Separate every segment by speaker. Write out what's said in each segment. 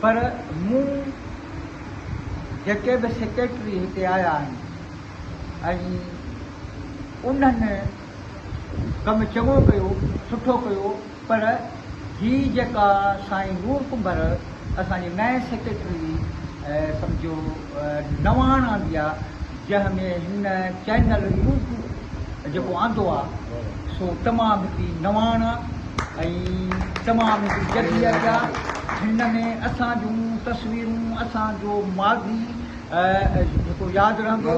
Speaker 1: پر مون جيڪي به سيڪريٽري هتي آيا آهن ۽ انهن ڪم چڱو ڪيو، سٺو ڪيو پر هي جيڪا سائين نور ڪنڀر اسان جي نئين سيڪريٽري سمجهو نواڻ آندي آهي، جنهن ۾ هن چينل يوٽ جيڪو آندو آ سو تمام هڪڙي نواڻ ۽ تمام هڪڙي جديد آ هن ۾ اسان جون تصويرون اسان جو ماضي جيڪو ياد رهندو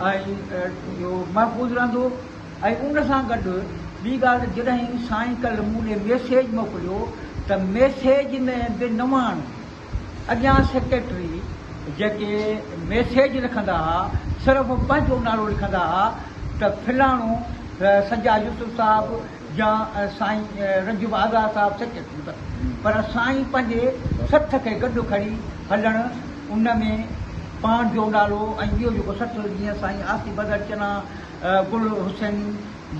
Speaker 1: ۽ محفوظ رهندو ۽ ان سان گڏ ٻي ڳالهه جڏهن سائين ڪل مون ڏي ميسيج موڪليو ته ميسيج ۾ به نواڻ اڳيان سيڪريٽري جيڪي ميسيج لکندا ھا صرف پنھنجو نالو لکندا ھا ته فلاڻو سجاد يوسف صاحب يا سائين رنجب آزاد صاحب سيڪريٽري بس پر سائين پنھنجي سٿ کي گڏ کڻي ھلڻ ان ۾ پاڻ جو نالو ۽ ٻيو جيڪو سٿ جيئن سائين آصف بدر چنا، گل حسيني.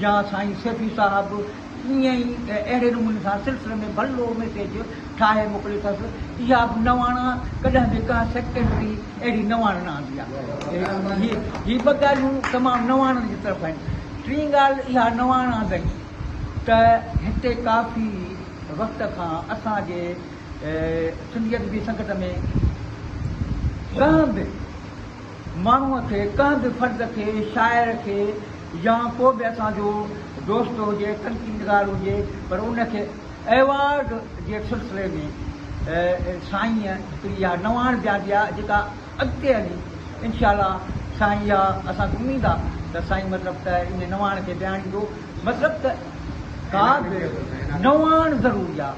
Speaker 1: جا سائين سيفي صاحب ائين ئي اهڙي نموني سان سلسلي ۾ ڀلو ميسيج ٺاهي موڪلي اٿس. اها به نواڻا ڪڏهن به ڪا سيڪريٽري اهڙي نواڻ نه آندي آهي. هي ٻه ڳالهيون تمام نواڻن جي طرف آهن. ٽين ڳالهه اها نواڻ آندئين ته هتي ڪافي وقت کان اسان جي سنڌي ادبي سنگت ۾ ڪنهن به ماڻهوء کي، ڪنهن به فرد کي، شاعر کي يا ڪو به اسان جو دوست هجي، تنقيد نگار هجي پر ان کي ايوارڊ جي سلسلي ۾ سائين هڪڙي اها نواڻ به آندي آهي جيڪا اڳتي هلي انشاء الله سائين اها اسان کي اميد آهي ته سائين مطلب ته ان نواڻ کي بياڻيندو مطلب ته ڪا به نواڻ ضروري آهي.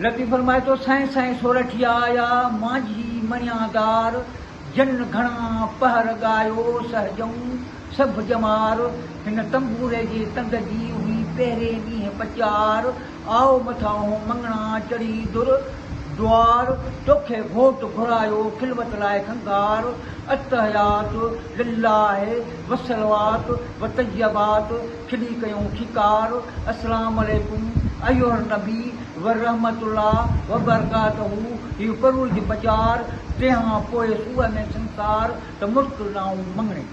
Speaker 1: لطيف فرمائي ٿو، سائين سائين سورٺيا آيا، مانجهي مڻيان دار، جن گهڻا پهر ڳايو، سهجئون سڀ ڄمار، هن تنبوري جي تند جي، هئي پهرين ڏينهن پچيار، آء مٿاهون مڱڻا چڙهي در دؤار، توکي گهوٽ گهرايو، خلوت لاء کنگهار، التحيات لله وصلوات وطيبات، ڇڏي ڪيون ڇڪار، السلام عليڪم ايها النبي ورحمة الله وبرڪاته هي پرور جي پچار، تنهان پوء سوء ۾ سنسار ته مشڪل نائون مڱڻي.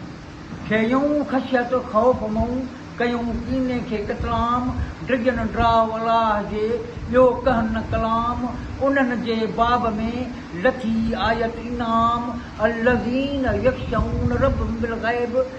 Speaker 1: کيئون خشيت خوف مئون ڪيون ڪيني کي قتلام، ڊڄن ڊاء الاهه جي ٻيو ڪهن نه ڪلام، انهن جي باب ۾ لٿي آيت انعام، الذين يخشون ربهم بالغيب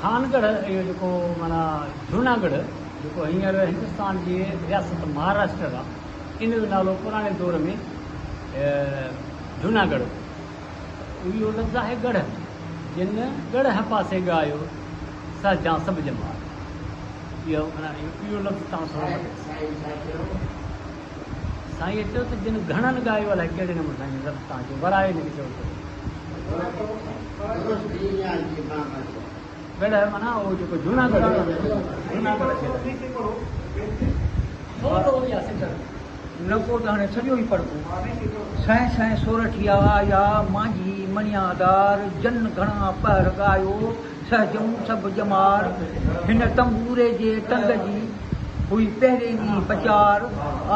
Speaker 2: خانگڙھ اھو جيڪو معنيٰ جوناگڙھ جيڪو ھينئر ھندستان جي رياست مھاراشٽر آ ان جو نالو پراڻي دور ۾ جوناگڙھ ھو اھو لفظ آھي ڳڙھ جنھن ڳڙھ پاسي ڳايو سھ جان سڀ ڄمار اھو لفظ تان سھڻو لڳي ٿو. سائينء چيو ته جن گهڻن ڳايو الائي ڪهڙي نموني سائين جي رب توهان کي ورائي هن کي چيو ته معنيٰ اهو جيڪو جوناگڙهه
Speaker 1: نڪو ته هاڻي سڄو ئي پڙهبو سائين سائين سورٺيا آيا مانجهي مڻيا دار جن گهڻا پهر ڳايو سهجون سڀ ڄمار، هن تنبوري جي ٽنگ جي هئي پهرين ئي پچار،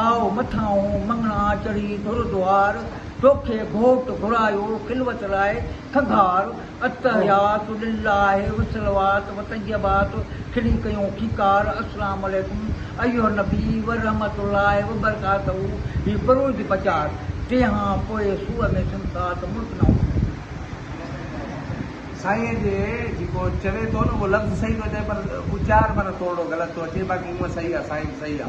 Speaker 1: آء مٿانهون مڱڻا چڙهي در دوار، توکي گهوٽ گهرايو خلوت لاء کنگهار، التحيات لله والصلوات والطيبات کلي ڪيون کيڪار، السلام عليڪم ايها النبي ورحمة الله وبرڪاته هي پرويج پچار، تنهان پوء سوء ۾ سمسات ملڪ نه هوندو.
Speaker 3: سائين جي جيڪو چوي ٿو نه اهو لفظ صحيح ٿو چوي پر اچار معنيٰ ٿورڙو غلط ٿو اچي باقي هونء صحيح آ سائين صحيح آ.